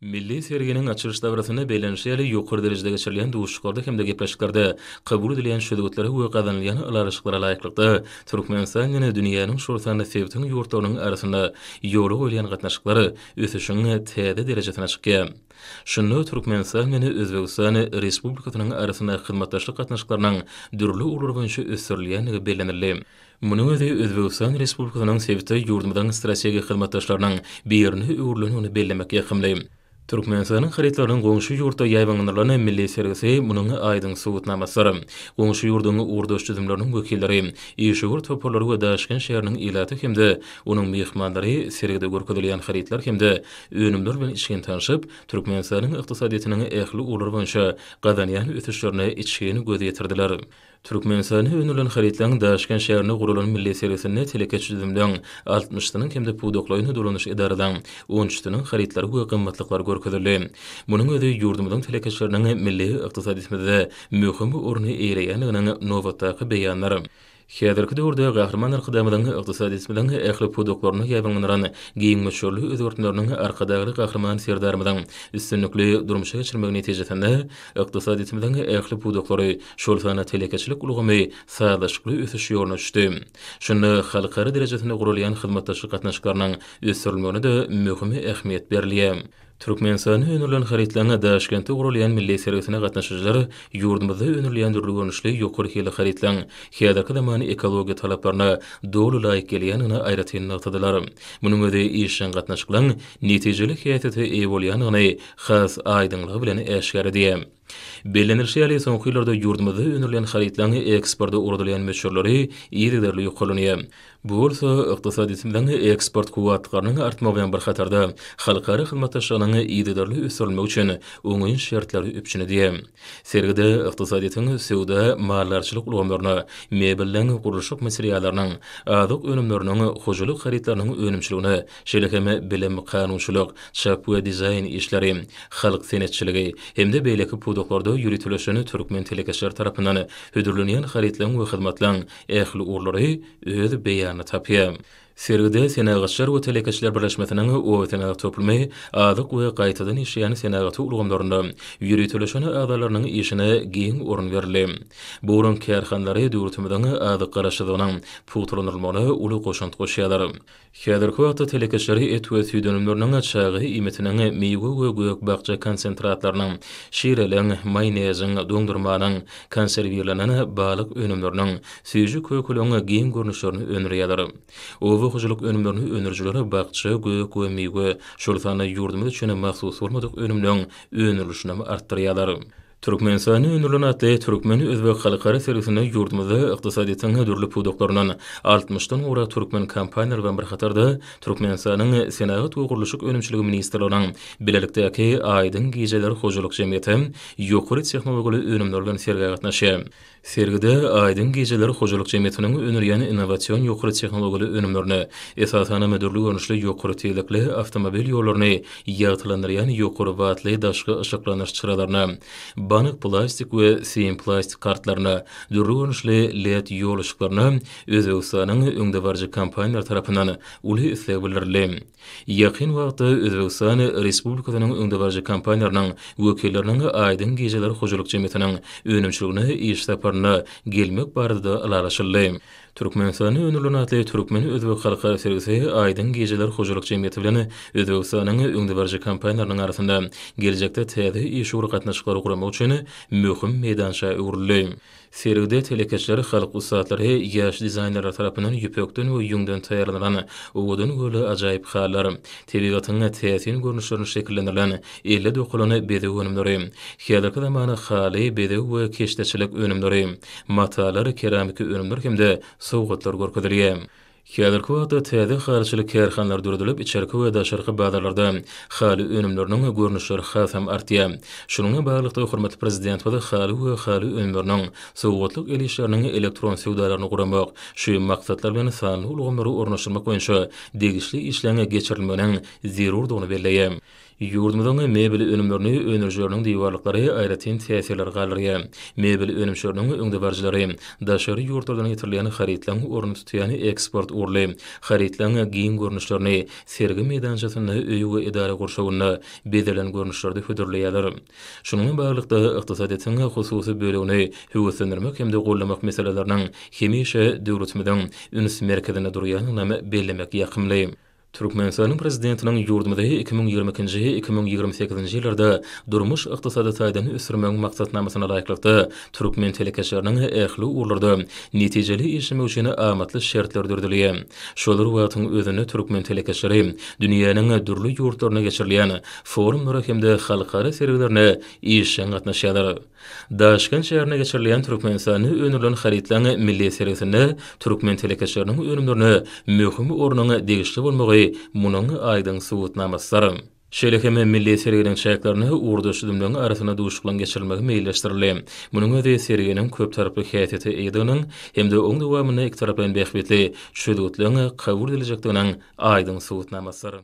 Milli serginiň açylyş dabarasynda belentşeli, ýokary derejede geçirilýän duşuşyklarda hem-de gepleşiklerde kabul edilen çözgütlere we gazanylýan ylalaşyklara laýyklykda, Türkmenistan ýene dünýäniň, şol sanda sebitiň ýurtlarynyň arasynda ýola goýulýan gatnaşyklar ösüşiň täze derejesine çykýar. Şunda Türkmenistan bilen Özbegistan Respublikasynyň arasynda hyzmatdaşlyk gatnaşyklarynyň dürli ugurlar boýunça ösdürilýändigi bellenildi. Munuň özi Özbegistan Respublikasynyň sebitde ýurdumyzyň strategik hyzmatdaşlarynyň birine öwrülendigini bellemek ýakymly. Türkmenistanyň harytlarynyň goňşy ýurtda ýaýbaňlandyrylan milli sergisi munuň aýdyň subutnamasydyr. Goňşy ýurduň ugurdaş düzümleriniň wekilleri, işewür toparlary we Daşkent şäheriniň ilaty hem-de onuň myhmanlary sergide görkezilýän harytlar hem-de önümler bilen içgin tanşyp, Türkmenistanyň ykdysadyýetiniň ähli ugurlar boýunça gazanýan ösüşlerine içgin göz ýetirdiler. Türkmenistanda öndürilen harytlaryň Daşkent şäherinde guralan milli sergisinde telekeçi düzümleriň altmyş synyň hem-de pudaklaýyn dolanyş edaralaryň on üç synyň harytlary we gymmatlyklary görkezildi. Munuň özi ýurdumyzyň telekeçileriniň milli ykdysadyýetimizde möhüm orny eýeleýändiginiň nobatdaky beýanydyr. Häzirki döwürde Gahryman Arkadagymyzyň ykdysadyýetimiziň ähli pudaklaryna ýaýbaňlandyran giň möçberli özgertmeleriniň Arkadagly Gahryman Serdarymyzyň üstünlikli durmuşa geçirmegi netijesinde, Ykdysadyýetimiziň ähli pudaklary, şol sanda telekeçilik ulgamy sazlaşykly ösüş ýoluna düşdi. Şunda halkara derejesinde guralýan hyzmatdaşlyk gatnaşyklarynyň ösdürilmegine-de möhüm ähmiýet berilýär. Türkmenistanda öndürilen harytlaryň Daşkentde guralýan milli sergisine gatnaşyjylar ýurdumyzda öndürilýän dürli görnüşli ýokary hilli harytlaryň häzirki zaman ekologiýa talaplaryna doly laýyk gelýändigini aýratyn nygtadylar. Munuň özi işjeň gatnaşyklaryň netijeli häsiýete eýe bolýandygyny has aýdyňlygy bilen äşgär edýär. Bellenilişi ýaly, soňky ýyllarda ýurdumyzda öndürilen harytlaryň eksporta ugradylýan möçberleri yzygiderli ýokarlanýar. Bu bolsa ykdysadyýetimiziň eksport kuwwatlyklarynyň artmagy bilen bir hatarda, halkara hyzmatdaşlygynyň yzygiderli ösdürilmegi üçin oňyn şertleri üpjün edýär. Sergide ykdysadyýetiň söwda, maldarçylyk ulgamlaryna, mebelden gurluşyk materiallarynyň, azyk önümleriniň, hojalyk harytlarynyň önümçiligine, şeýle hem bilim, kanunçylyk, çap we dizaýn işleri, halk senetçiligi hem-de beýleki pudaklarda ýöriteleşen türkmen telekeçileri tarapyndan hödürlenýän harytlaryň we hyzmatlaryň ähli ugurlary öz beýanyny tapýar. Sergide Senagatçylar we telekeçiler birleşmesiniň Obasenagat toplumy azyk we gaýtadan işleýän senagaty ulgamlarynda ýöriteleşen agzalarynyň işine giň orun berildi. Bu olaryň kärhanalary döwletimiziň azyk garaşsyzlygynyň pugtalandyrylmagyna uly goşant goşýarlar. Häzirki wagtda telekeçiler et we süýt önümleriniň, çaga iýmitiniň, miwe we gök-bakja konsentratlarynyň, şireliň, maýoneziň, doňdurmanyň, konserwirlenen balyk önümleriniň, Süýji kökeleň giň görnüşlerini öndürýärler. Oba hojalyk önümlerini öndürijiler bakja, gök we miwe, şol sanda ýurdumyz üçin mahsus bolmadyk önümleň öndürilişinem artdyrýarlar. Türkmenistanda öndürilen atly Türkmen-özbek halkara sergisinde ýurdumyzda ykdysadyýetiň dürli pudaklaryndan altmyş dan gowrak türkmen kompaniýalary bilen bir hatarda Türkmenistanyň Senagat we gurluşyk önümçiligi ministrliginiň bilelikdäki Aýdyň gijeler hojalyk jemgyýeti ýokary tehnologiýaly önümler bilen sergä gatnaşýar. Sergide Aýdyň gejeler hojalyk jemgyýetiniň öndürýän innowasion ýokary tehnologiýaly önümlerini, esasanam dürli görnüşli ýokary tizlikli awtomobil ýollaryny ýagtylandyrýan ýokary wattly daşky yşyklandyryş çyralaryna, bank plastik we sim plastik kartlaryna, dürli görnüşli led ýol yşyklaryna Özbegistanyň öňdebaryjy kompaniýalary tarapyndan uly isleg bildirildi. Ýakyn wagtda Özbegistan Respublikasynyň öňdebaryjy kompaniýalarynyň wekilleriniň Aýdyň gijeler hojalyk jemgyýetiniň önümçiligine iş saparyna gelmek barada-da ylalaşyldy. Türkmenistanda öndürilen atly türkmen-özbek halkara sergisi Aýdyň gijeler hojalyk jemgyýeti bilen Özbegistanyň öňdebaryjy kompaniýalarynyň arasynda geljekde täze iş ugur gatnaşyklary guramak üçin möhüm meýdança öwrüldi. Sergide telekeçiler, halk ussatlary, ýaş dizaýnerler tarapyndan ýüpekden we ýüňden taýýarlanan owadan göle ajaýyp hallar, tebigatyň täsin görnüşlerinde şekillendirilen elle dokalan bezeg önümleri, häzirki zaman haly, bezeg we keşdeçilik önümleri, matalar, keramiki önümler hem-de sowgatlar görkezilýär. Häzirki wagtda täze halyçylyk kärhanalary döredilip, içerki we daşarky bazarlarda haly önümleriniň görnüşleri hasam artýar. Şunuň bilen baglylykda, hormatly Prezidentimiz haly we haly önümleriniň, sowgatlyk el işleriniň elektron söwdalaryny guramak, şu maksatlar bilen sanly ulgamlary ornaşdyrmak boýunça degişli işleriň geçirilmeginiň zerurdygyny belleýär. Ýurdumyzyň mebel önümlerini öndürijileriniň diwarlyklary aýratyn täsirleri galdyrýar. Mebel önümçileriniň öňdebaryjylary daşary ýurtlardan getirilýän harytlaryň ornuny tutýan eksport ugurly harytlaryň giň görnüşlerini sergi meýdançasynda öý we edara gurşawynda bezelen görnüşlerde hödürleýärler. Şunuň bilen baglylykda, ykdysadyýetiň hususy bölegini höweslendirmek hem-de goldamak meseleleriniň hemişe döwletimiziň üns merkezinde durýandygynam bellemek ýakymly. Türkmenistanyň Prezidentiniň ýurdumyzy iki müň ýigrimi ikinji, iki müň ýigrimi sekizinji ýyllarda durmuş-ykdysady taýdan ösdürmegiň maksatnamasyna laýyklykda, türkmen telekeçileriniň ähli ugurlarda netijeli işlemegi üçin amatly şertler düzüldi. Şol bir wagtyň özünde türkmen telekeçileri dünýäniň dürli ýurtlarynda geçirilýän forumlara hem-de halkara sergilerine işjeň gatnaşýarlar. Daşkent şäherinde geçirilýän Türkmenistanda öndürilen harytlaryň milli sergisinde türkmen telekeçileriniň önümlerine möhüm ornuň degişli bolmagy munuň aýdyň subutnamasydyr. Şeýle hem milli serginiň çäklerinde ugurdaş düzümleriň arasynda duşuşyklaryň geçirilmegi meýilleşdirildi. Munuň özi serginiň köptaraply häsiýete eýediginiň hem-de oň dowamynda ikitaraplaýyn bähbitli çözgütleriň kabul ediljekdiginiň aýdyň subutnamasydyr.